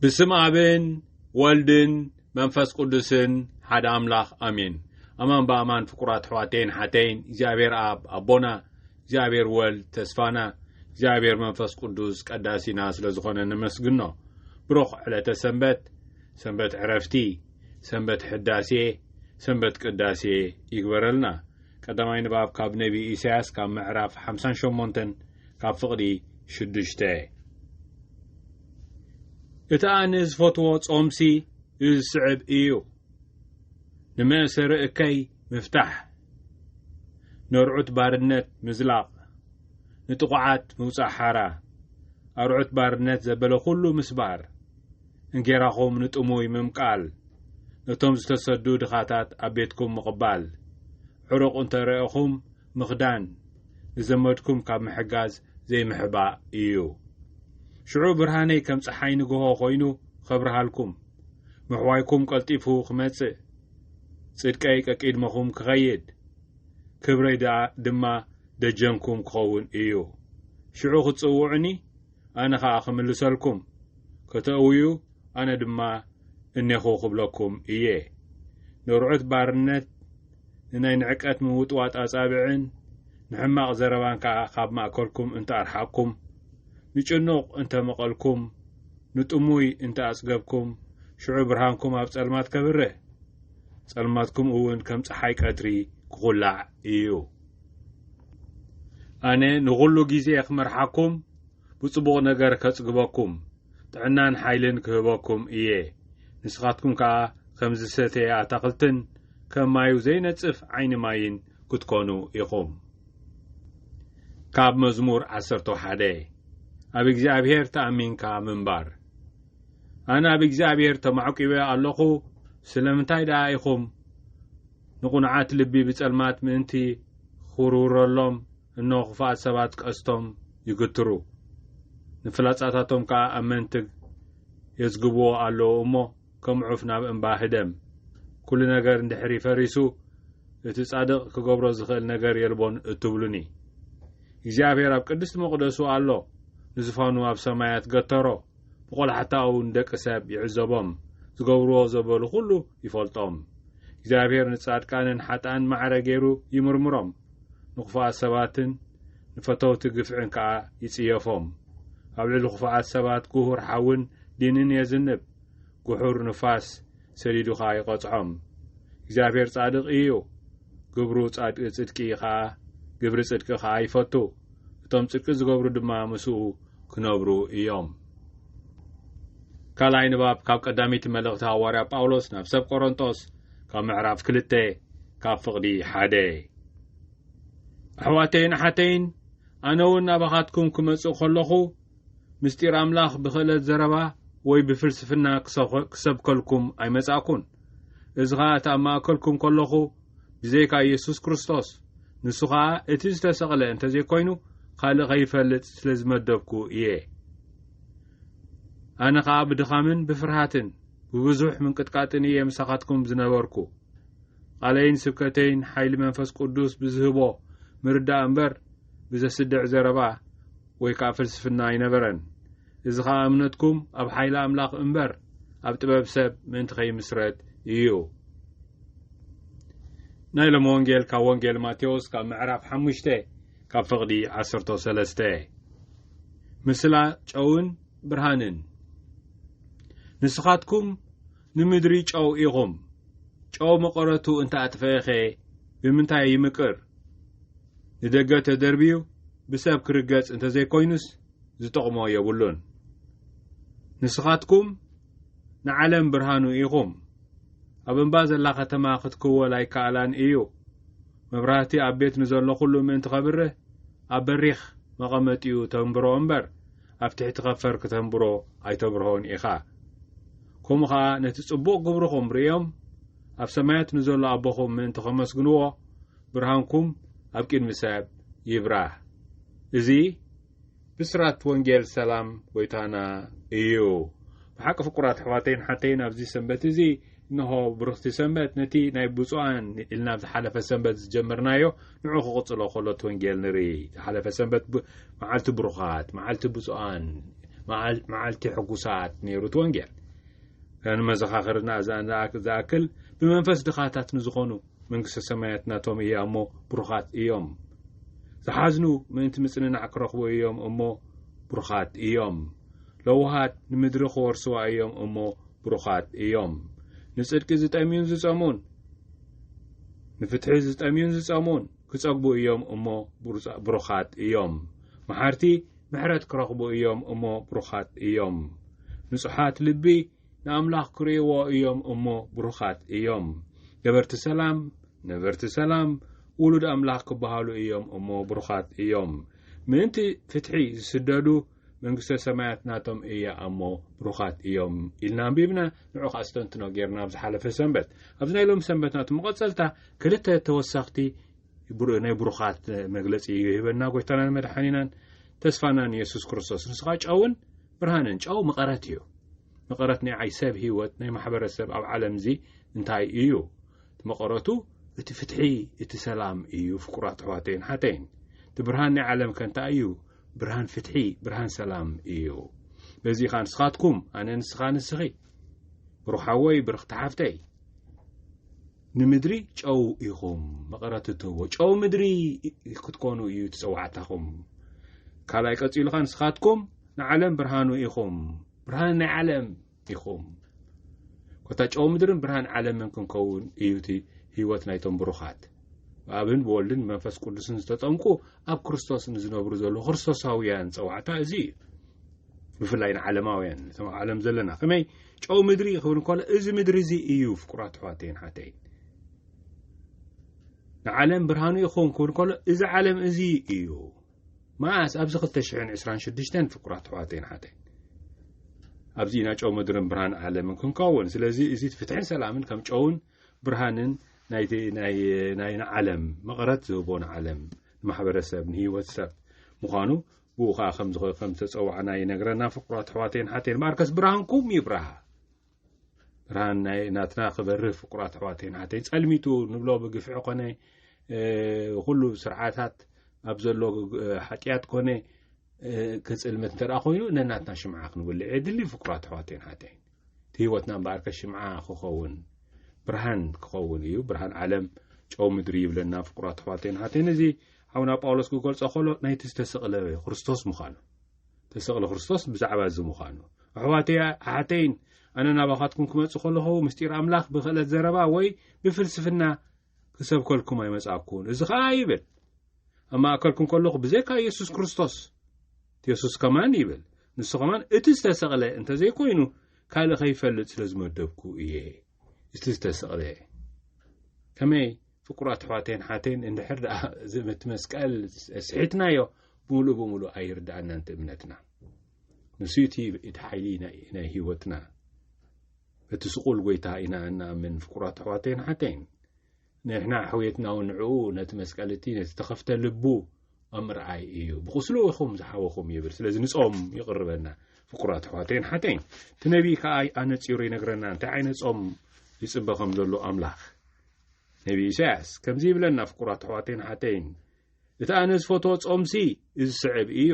ብስም ኣብን ወልድን መንፈስ ቅዱስን ሓደ ኣምላኽ ኣሜን። ኣማን ብኣማን ፍቁራት ኣሕዋተይን ሓተይን እግዚኣብሔር ኣብ ኣቦና እግዚኣብሔር ወልድ ተስፋና እግዚኣብሔር መንፈስ ቅዱስ ቀዳሲና ስለ ዝኾነ ነመስግኖ። ብሩኽ ዕለተ ሰንበት፣ ሰንበት ዕረፍቲ፣ ሰንበት ሕዳሴ፣ ሰንበት ቅዳሴ ይግበረልና። ቀዳማይ ንባብ ካብ ነቢ ኢሳያስ ካብ ምዕራፍ ሓምሳን ሸሞንተን ካብ ፍቕዲ ሽዱሽተ እቲ ኣነ ዝፈትዎ ጾምሲ እዚ ዝስዕብ እዩ ንመእሰሪ እከይ ምፍታሕ ነርዑት ባርነት ምዝላቕ ንጥቑዓት ምውጻእ ሓራ ኣርዑት ባርነት ዘበለ ኩሉ ምስባር እንጌራኹም ንጥሙይ ምምቃል ነቶም ዝተሰዱ ድኻታት ኣብ ቤትኩም ምቕባል ዕሩቕ እንተ ረእኹም ምኽዳን፣ ንዘመድኩም ካብ ምሕጋዝ ዘይምሕባእ ኢዩ። ሽዑ ብርሃነይ ከም ጸሓይ ንግሆ ኮይኑ ኸብርሃልኩም፣ ምሕዋይኩም ቀልጢፉ ክመጽእ፣ ጽድቀይ ቀቂድመኹም ክኸይድ፣ ክብረይ ድኣ ድማ ደጀንኩም ክኸውን ኢዩ። ሽዑ ክትጽውዑኒ ኣነ ኸኣ ኽምልሰልኩም፣ ከተእውዩ ኣነ ድማ እኔኹ ኽብለኩም እየ። ነርዑት ባርነት፣ ንናይ ንዕቀት ምውጥዋጥ ኣጻብዕን ንሕማቕ ዘረባን ከኣ ኻብ ማእከልኩም እንተ ኣርሓቕኩም፣ ንጭኑቕ እንተ መቐልኩም፣ ንጥሙይ እንተ ኣጽገብኩም፣ ሽዑ ብርሃንኩም ኣብ ጸልማት ከብርህ፣ ጸልማትኩም እውን ከም ጸሓይ ቀትሪ ኪዅላዕ እዩ። ኣነ ንኹሉ ግዜየ ክመርሓኩም ብጽቡቕ ነገር ከጽግበኩም ጥዕናን ሓይልን ክህበኩም እየ ንስኻትኩም ከኣ ከም ዝሰተየ ኣታኽልትን ከም ማዩ ዘይነጽፍ ዓይኒ ማይን ክትኮኑ ኢኹም ካብ መዝሙር ዓሰርተ ሓደ ኣብ እግዚኣብሔር ተኣሚንካ ምንባር ኣነ ኣብ እግዚኣብሔር ተማዕቂበ ኣለኹ ስለምንታይ ደኣ ኢኹም ንቕኑዓት ልቢ ብጸልማት ምእንቲ ኺውርውረሎም፣ እንሆ፣ ኽፉኣት ሰባት ቀስቶም ይግትሩ፣ ንፍላጻታቶም ከኣ ኣብ መንትግ የዝግብዎ ኣለዉ እሞ፣ ከም ዑፍ ናብ እምባ ህደም። ኵሉ ነገር እንድሕሪ ፈሪሱ፣ እቲ ጻድቕ ኪገብሮ ዚኽእል ነገር የልቦን እትብሉኒ። እግዚኣብሄር ኣብ ቅድስቲ መቕደሱ ኣሎ፣ ንዙፋኑ ኣብ ሰማያት ገተሮ። ብቆላሕታኡ ንደቂ ሰብ ይዕዘቦም፣ ዝገብርዎ ዘበሉ ኩሉ ይፈልጦም። እግዚኣብሄር ንጻድቃንን ሓጥኣን ማዕረ ገይሩ ይምርምሮም፣ ንክፉኣት ሰባትን ንፈተውቲ ግፍዕን ከኣ ይጽየፎም። ኣብ ልዕሊ ክፉኣት ሰባት ግሁር ሓውን ዲንን የዝንብ፣ ግሑር ንፋስ ሰዲዱ ከኣ ይቐጽዖም። እግዚኣብሄር ጻድቕ ኢዩ፣ ግብሩ ጻድቂ ጽድቂ ኢዩ ከኣ፣ ግብሪ ጽድቂ ከኣ ይፈቱ። እቶም ጽድቂ ዝገብሩ ድማ ምስኡ ክነብሩ እዮም። ካልኣይ ንባብ ካብ ቀዳመይቲ መልእኽቲ ሃዋርያ ጳውሎስ ናብ ሰብ ቆሮንጦስ ካብ ምዕራፍ ክልተ ካብ ፍቕዲ ሓደ ኣሕዋተይን ኣሓተይን ኣነ እውን ናባኻትኩም ክመጽእ ከለኹ ምስጢር ኣምላኽ ብኽእለት ዘረባ ወይ ብፍልስፍና ክሰብከልኩም ኣይመጻእኩን እዚ ኸኣ እቲ ኣብ ማእከልኩም ከለኹ ብዘይካ ኢየሱስ ክርስቶስ፣ ንሱ ኸኣ እቲ ዝተሰቕለ እንተ ዘይኮይኑ ካልእ ኸይፈልጥ ስለ ዝመደብኩ እየ። ኣነ ኸኣ ብድኻምን ብፍርሃትን ብብዙሕ ምንቅጥቃጥን እየ ምሳኻትኩም ዝነበርኩ። ቓለይን ስብከተይን ሓይሊ መንፈስ ቅዱስ ብዝህቦ ምርዳእ እምበር ብዘስድዕ ዘረባ ወይ ከኣ ፍልስፍና ኣይነበረን። እዚ ኸኣ እምነትኩም ኣብ ሓይሊ ኣምላኽ እምበር ኣብ ጥበብ ሰብ ምእንቲ ኸይምስረት እዩ። ናይ ሎሚ ወንጌል ካብ ወንጌል ማቴዎስ ካብ ምዕራፍ ሓሙሽተ ካብ ፍቕዲ ዓሰርቶ ሰለስተ ምስላ ጨውን ብርሃንን ንስኻትኩም ንምድሪ ጨው ኢኹም ጨው መቐረቱ እንተ ኣጥፈኤኸ ብምንታይ ይምቅር ንደገ ተደርብዩ ብሰብ ክርገጽ እንተ ዘይኮይኑስ ዝጠቕሞ የብሉን ንስኻትኩም ንዓለም ብርሃኑ ኢኹም ኣብ እምባ ዘላ ከተማ ክትክወል ኣይከኣላን እዩ መብራህቲ ኣብ ቤት ንዘሎ ኩሉ ምእንቲ ከብርህ ኣብ በሪኽ መቐመጢኡ ተንብሮ እምበር ኣብ ትሕቲ ከፈር ክተንብሮ ኣይተብርሆን ኢኻ ከምኡ ኸኣ ነቲ ጽቡቕ ግብርኹም ርእዮም ኣብ ሰማያት ንዘሎ ኣቦኹም ምእንቲ ከመስግንዎ ብርሃንኩም ኣብ ቅድሚ ሰብ ይብራህ እዚ ብስራት ወንጌል ሰላም ጎይታና እዩ ብሓቂ ፍቁራት ኣሕዋተይን ሓተይን ኣብዚ ሰንበት እዚ እንሆ ብርኽቲ ሰንበት ነቲ ናይ ብፁዓን ኢልና ኣብ ዝሓለፈ ሰንበት ዝጀመርናዮ ንዑ ክቕጽሎ ከሎ እቲ ወንጌል ንርኢ ዝሓለፈ ሰንበት መዓልቲ ብሩኻት መዓልቲ ብፁዓን መዓልቲ ሕጉሳት ነይሩ እቲ ወንጌል ከንመዘኻኽርና ዝኣክል ብመንፈስ ድኻታት ንዝኾኑ መንግስተ ሰማያት ናቶም እያ እሞ ብሩኻት እዮም ዝሓዝኑ ምእንቲ ምጽንናዕ ክረኽቡ እዮም እሞ ብሩኻት እዮም ለውሃት ንምድሪ ክወርስዋ እዮም እሞ ብሩኻት እዮም ንጽድቂ ዝጠምዩን ዝጸሙን ንፍትሒ ዝጠምዩን ዝጸሙን ክጸግቡ እዮም እሞ ብሩኻት እዮም መሓርቲ ምሕረት ክረኽቡ እዮም እሞ ብሩኻት እዮም ንጹሓት ልቢ ንኣምላኽ ክርእይዎ እዮም እሞ ብሩኻት እዮም። ገበርቲ ሰላም፣ ነበርቲ ሰላም፣ ውሉድ ኣምላኽ ክበሃሉ እዮም እሞ ብሩኻት እዮም። ምእንቲ ፍትሒ ዝስደዱ፣ መንግስተ ሰማያት ናቶም እያ እሞ ብሩኻት እዮም ኢልና ኣንቢብና፣ ንዑ ኸኣ ኣስተንትኖ ጌርና ኣብ ዝሓለፈ ሰንበት። ኣብዚ ናይ ሎሚ ሰንበት ናቱ መቐጸልታ ክልተ ተወሰኽቲ ናይ ብሩኻት መግለጺ ይህበና ጎይታናን መድሓኒናን ተስፋናን የሱስ ክርስቶስ። ንስኻ ጨውን ብርሃነ ጨው መቐረት እዩ። መቐረት ናይ ዓይ ሰብ ህይወት ናይ ማሕበረሰብ ኣብ ዓለምዚ እንታይ እዩ መቐረቱ እቲ ፍትሒ እቲ ሰላም እዩ ፍቁራት ኣሕዋተይን ሓተይን እቲ ብርሃን ናይ ዓለም ከንታይ እዩ ብርሃን ፍትሒ ብርሃን ሰላም እዩ በዚ ኸ ንስኻትኩም ኣነ ንስኻ ንስኺ ብሩሓወይ ብርኽቲ ሓፍተይ ንምድሪ ጨው ኢኹም መቐረት እትህቦ ጨው ምድሪ ክትኮኑ እዩ ትፀዋዕታኹም ካልኣይ ቀፂሉ ኸ ንስኻትኩም ንዓለም ብርሃኑ ኢኹም ብርሃን ናይ ዓለም ኢኹም ኮታ ጨው ምድርን ብርሃን ዓለምን ክንከውን እዩ እቲ ህይወት ናይቶም ብሩኻት ብኣብን ብወልድን መንፈስ ቅዱስን ዝተጠምቁ ኣብ ክርስቶስ ንዝነብሩ ዘለዉ ክርስቶሳውያን ፀዋዕታ እዚ እዩ ብፍላይ ንዓለማውያን እቶም ኣብ ዓለም ዘለና ከመይ ጨው ምድሪ ክብል እንከሎ እዚ ምድሪ እዚ እዩ ፍቁራት ኣሕዋተይን ሓተይን ንዓለም ብርሃኑ ይኸውን ክብል ከሎ እዚ ዓለም እዚ እዩ መኣስ ኣብዚ 226 ፍቁራት ኣሕዋተይን ሓተይን ኣብዚ ኢና ጨው ምድርን ብርሃን ዓለምን ክንከውን ስለዚ እዚ ፍትሕን ሰላምን ከም ጨውን ብርሃንን ናይ ንዓለም መቐረት ዝህቦ ንዓለም ንማሕበረሰብ ንህይወት ሰብ ምዃኑ ብኡ ከኣ ከምዝኸ ከም ዝተጸዋዕና ይነግረና ፍቁራት ኣሕዋተይን ሓተይን ማርከስ ብርሃንኩም ይብራሃ ብርሃን ናይ ናትና ክበርህ ፍቁራት ኣሕዋተይን ሓተይ ጸልሚቱ ንብሎ ብግፍዒ ኮነ ኩሉ ስርዓታት ኣብ ዘሎ ሓጢያት ኮነ ክጽልምት እንተ ኮይኑ ነናትና ሽምዓ ክንውልዕ የድሊ ፍቁራት ኣሕዋተይን ሓተይን እቲ ህይወትና እምበኣርከ ሽምዓ ክኸውን ብርሃን ክኸውን እዩ ብርሃን ዓለም ጨው ምድሪ ይብለና ፍቁራት ኣሕዋተይን ሓተይን እዚ ሓውና ጳውሎስ ክገልጾ ከሎ ናይቲ ዝተሰቕለ ክርስቶስ ምዃኑ ተሰቕለ ክርስቶስ ብዛዕባ እዚ ምዃኑ ኣሕዋተይ ኣሓተይን ኣነ ናባኻትኩም ክመጽእ ከለኹ ምስጢር ኣምላኽ ብክእለት ዘረባ ወይ ብፍልስፍና ክሰብከልኩም ኣይመጻእኩን እዚ ኸኣ ይብል ኣብ ማእከልኩም ከለኹ ብዘይካ የሱስ ክርስቶስ የሱስ ከማን ይብል ንሱ ከማን እቲ ዝተሰቕለ እንተ ዘይኮይኑ ካልእ ከይፈልጥ ስለ ዝመደብኩ እየ እቲ ዝተሰቕለ ከመይ ፍቁራት ኣሕዋተይን ሓተይን እንድሕር ደኣ እቲ መስቀል ስሒትናዮ ብምሉእ ብምሉእ ኣይርድኣና እንተ እምነትና ንሱ እቲ ሓይሊ ናይ ህይወትና እቲ ስቑል ጎይታ ኢና እንኣምን ፍቁራት ኣሕዋተይን ኣሓተይን። ንሕና ሕውየትናውን ንዕኡ ነቲ መስቀል እቲ ነቲ ተኸፍተ ልቡ ኣብ ምርኣይ እዩ። ብቑስሉ ኢኹም ዝሓወኹም ይብል። ስለዚ ንጾም ይቕርበና ፍቁራት ኣሕዋተይን ኣሓተይን። እቲ ነቢይ ከኣ ኣነጺሩ ይነግረና እንታይ ዓይነት ጾም ይጽበ ከም ዘሎ ኣምላኽ። ነቢይ ኢሳያስ ከምዚ ይብለና ፍቁራት ኣሕዋተይን ኣሓተይን። እቲ ኣነ ዝፈትዎ ጾምሲ እዚ ስዕብ እዩ፣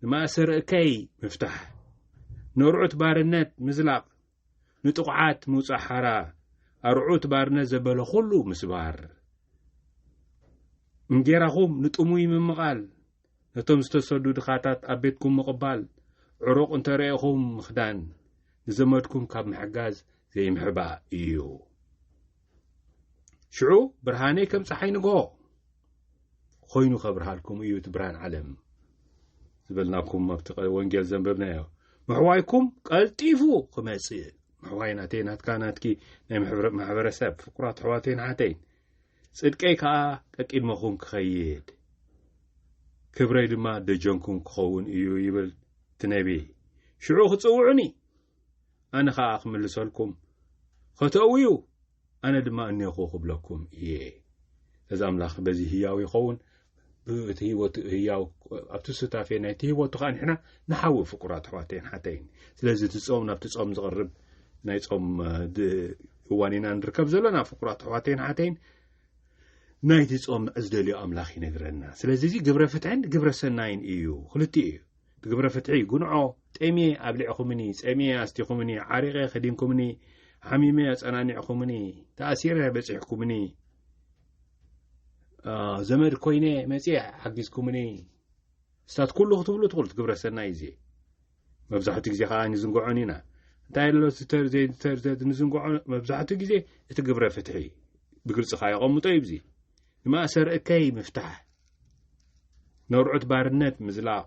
ንማእሰር'ከይ ምፍታሕ፣ ነርዑት ባርነት ምዝላቕ፣ ንጥቑዓት ምውጻእ ሓራ፣ ኣርዑት ባርነት ዘበለ ኩሉ ምስባር፣ እንጌራኹም ንጥሙይ ምምቓል፣ ነቶም ዝተሰዱ ድኻታት ኣብ ቤትኩም ምቕባል፣ ዕሩቕ እንተ ረኤኹም ምኽዳን፣ ንዘመድኩም ካብ ምሕጋዝ ዘይምሕባእ እዩ። ሽዑ ብርሃነይ ከም ፀሓይ ንግሆ ኮይኑ ከብርሃልኩም እዩ እቲ ብርሃን ዓለም ዝበልናኩም ኣብቲ ወንጌል ዘንበብናዮ ምሕዋይኩም ቀልጢፉ ክመፅእ ምሕዋይ ናተይ ናትካ ናትኪ ናይ ማሕበረሰብ ፍቁራት ኣሕዋተይን ሓተይን ፅድቀይ ከዓ ቀቂድመኹም ክኸይድ ክብረይ ድማ ደጀንኩም ክኸውን እዩ ይብል እቲ ነቢ ሽዑ ክፅውዑኒ ኣነ ኸኣ ኽምልሰልኩም ኸተእው እዩ፣ ኣነ ድማ እኔኹ ኽብለኩም እየ። እዚ ኣምላኽ በዚ ህያው ይኸውን፣ ብእቲ ህይወቱ ህያው ኣብቲ ሱታፌ ናይቲ ህይወቱ ኸዓ ንሕና ንሓዊ ፍቁራት ኣሕዋተይን ሓተይን። ስለዚ እቲ ጾም ናብቲ ጾም ዝቕርብ ናይ ጾም እዋን ኢና ንርከብ ዘለና ፍቁራት ኣሕዋተይን ሓተይን። ናይቲ ጾም ዝደልዮ ኣምላኽ ይነግረና። ስለዚ እዚ ግብረ ፍትሕን ግብረ ሰናይን እዩ፣ ኽልቲኡ እዩ። ትግብረ ፍትሒ ጉንዖ ጤምየ ኣብሊዕኹምኒ ጸምየ ኣስቲኹምኒ ዓሪቐ ከዲንኩምኒ ሓሚመ ኣጸናኒዕኹምኒ ተኣሲረ በጺሕኩምኒ ዘመድ ኮይነ መጽየ ሓጊዝኩምኒ እስታት ኩሉ ክትብሉ ትኽእሉ ትግብረ ሰናይ እዘ መብዛሕትኡ ግዜ ከዓ ንዝንግዖን ኢና እንታይ ኣሎ ንዝንግዖ መብዛሕትኡ ግዜ እቲ ግብረ ፍትሒ ብግልፂ ከዓ የቐምጦ እዩብዙ ንማእሰር እከይ ምፍታሕ፣ ነርዑት ባርነት ምዝላቕ፣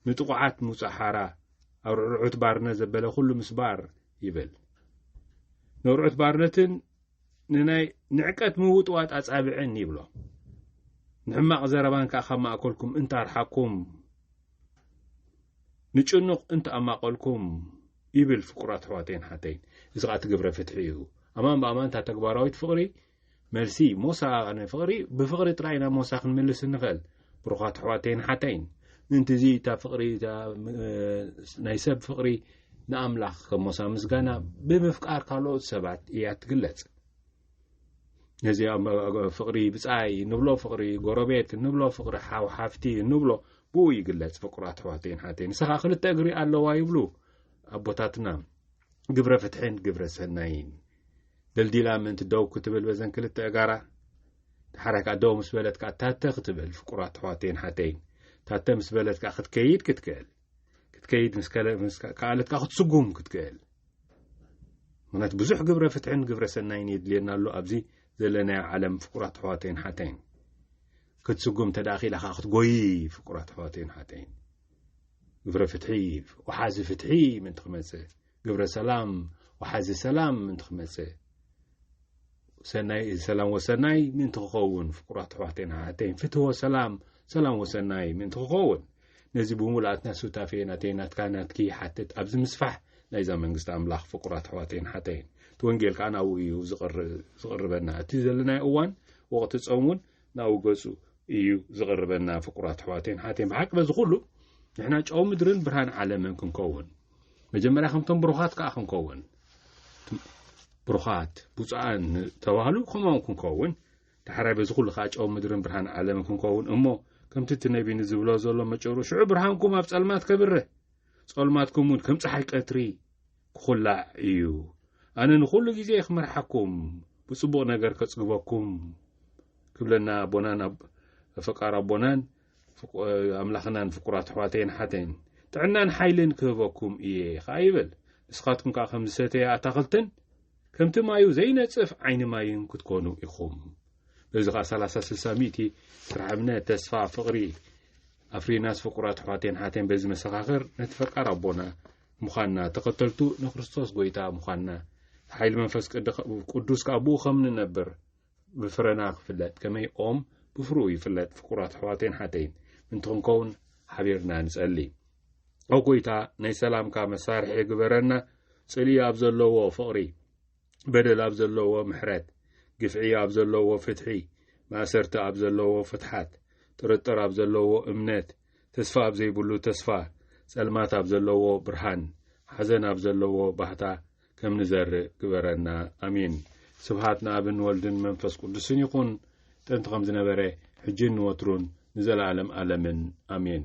ንጥቑዓት ምውጻእ ሓራ፣ ኣርዑርዑት ባርነት ዘበለ ኩሉ ምስባር ይብል። ነርዑት ባርነትን ንናይ ንዕቀት ምውጥዋጥ ኣጻብዕን ይብሎ። ንሕማቕ ዘረባን ከኣ ካብ ማእከልኩም እንተ ኣርሓቅኩም ንጭኑቕ እንተ ኣማቐልኩም ይብል ፍቁራት ኣሕዋተይን ሓተይን እዚ ከኣ እቲ ግብረ ፍትሒ እዩ ኣማን ብኣማን እታ ተግባራዊት ፍቕሪ መልሲ፣ ሞሳ ኣቐነ ፍቕሪ፣ ብፍቕሪ ጥራይ ናብ ሞሳ ክንምልስ እንኸእል። ብሩኻት ኣሕዋተይን ኣሓተይን፣ ምእንቲ እዚ እታ ፍቕሪ እታ ናይ ሰብ ፍቕሪ ንኣምላኽ ከም ሞሳ ምስጋና ብምፍቃር ካልኦት ሰባት እያ ትግለጽ። ነዚ ፍቕሪ ብጻይ እንብሎ ፍቕሪ ጎረቤት እንብሎ ፍቕሪ ሓው ሓፍቲ እንብሎ ብኡ ይግለጽ ፍቁራት ኣሕዋተይን ሓተይ ንስኻ ክልተ እግሪ ኣለዋ ይብሉ ኣቦታትና ግብረ ፍትሕን ግብረ ሰናይን ደልዲላ ምእንቲ ደው ክትብል በዘን ክልተ እጋራ ተሓራይ ከዓ ደው ምስ በለት ከዓ ታተ ክትብል ፍቁራት ኣሕዋተይን ሓተይን ታተ ምስ በለት ከዓ ክትከይድ ክትክእል ክትከይድ ምስከኣለት ከዓ ክትስጉም ክትክእል ምክንያቱ ብዙሕ ግብረ ፍትሕን ግብረ ሰናይን የድልየና ኣሎ ኣብዚ ዘለናዮ ዓለም ፍቁራት ኣሕዋተይን ሓተይን ክትስጉም እንተደኣ ክኢላ ከዓ ክትጎይ ፍቁራት ኣሕዋተይን ሓተይን ግብረ ፍትሒ ወሓዚ ፍትሒ ምእንቲ ክመጽእ ግብረ ሰላም ወሓዚ ሰላም ምእንቲ ክመጽእ ሰናይ ሰላም ወሰናይ ምእንቲ ክኸውን ፍቁራት ኣሕዋተይን ኣሓተይን ፍትዎ ሰላም ሰላም ወሰናይ ምእንቲ ክኸውን ነዚ ብምሉኣትና ሱታፌ ናተይ ናትካ ናትኪ ሓትት ኣብዚ ምስፋሕ ናይዛ መንግስቲ ኣምላኽ ፍቁራት ኣሕዋተይን ሓተይን እቲ ወንጌል ከዓ ናብኡ እዩ ዝቕርበና እቲ ዘለናዮ እዋን ወቕቲ ፆም እውን ናብኡ ገጹ እዩ ዝቕርበና ፍቁራት ኣሕዋተይን ኣሓተይን ብሓቂ በዚ ኩሉ ንሕና ጨው ምድርን ብርሃን ዓለምን ክንከውን መጀመርያ ከምቶም ብሩኻት ከዓ ክንከውን ብሩኻት ብፁኣን ተባህሉ ከምኦም ክንከውን ዳሕራይ በዚ ኩሉ ከዓ ጨው ምድርን ብርሃን ዓለምን ክንከውን እሞ ከምቲ እቲ ነቢ ንዝብሎ ዘሎ መጨሩ ሽዑ ብርሃንኩም ኣብ ጸልማት ከብርህ ጸልማትኩም እውን ከም ፀሓይ ቀትሪ ክኹላዕ እዩ። ኣነ ንኹሉ ግዜ ክመርሓኩም፣ ብጽቡቕ ነገር ከጽግበኩም ክብለና ኣቦናን ኣብ ፈቃር ኣቦናን ኣምላኽናን ፍቁራት ኣሕዋተይን ሓተይን ጥዕናን ሓይልን ክህበኩም እየ ኸዓ ይብል ንስኻትኩም ከዓ ከም ዝሰተየ ኣታኽልትን ከምቲ ማዩ ዘይነጽፍ ዓይኒ ማይን ክትኮኑ ኢኹም በዚ ከዓ ሰላሳ ስልሳ ሚእቲ ስራሕ እምነት ተስፋ ፍቕሪ ኣፍሪናስ ፍቁራት ኣሕዋተይን ሓተይን በዚ መሰኻኽር ነቲ ፈቃር ኣቦና ምዃንና፣ ተኸተልቱ ንክርስቶስ ጎይታ ምዃንና፣ ሓይሊ መንፈስ ቅዱስ ከኣ ብኡ ከም ንነብር ብፍረና ክፍለጥ፣ ከመይ ኦም ብፍርኡ ይፍለጥ። ፍቁራት ኣሕዋተይን ሓተይን ምንቲ ክንከውን ሓቢርና ንጸሊ። ኦ ጎይታ ናይ ሰላምካ መሳርሒ ግበረና፣ ጽልኢ ኣብ ዘለዎ ፍቕሪ፣ በደል ኣብ ዘለዎ ምሕረት፣ ግፍዒ ኣብ ዘለዎ ፍትሒ፣ ማእሰርቲ ኣብ ዘለዎ ፍትሓት፣ ጥርጥር ኣብ ዘለዎ እምነት፣ ተስፋ ኣብ ዘይብሉ ተስፋ፣ ጸልማት ኣብ ዘለዎ ብርሃን፣ ሓዘን ኣብ ዘለዎ ባህታ ከም ንዘርእ ግበረና። ኣሜን። ስብሃት ንኣብን ወልድን መንፈስ ቅዱስን ይኹን ጥንቲ ከም ዝነበረ ሕጂን ንወትሩን ንዘለኣለም ኣለምን ኣሜን።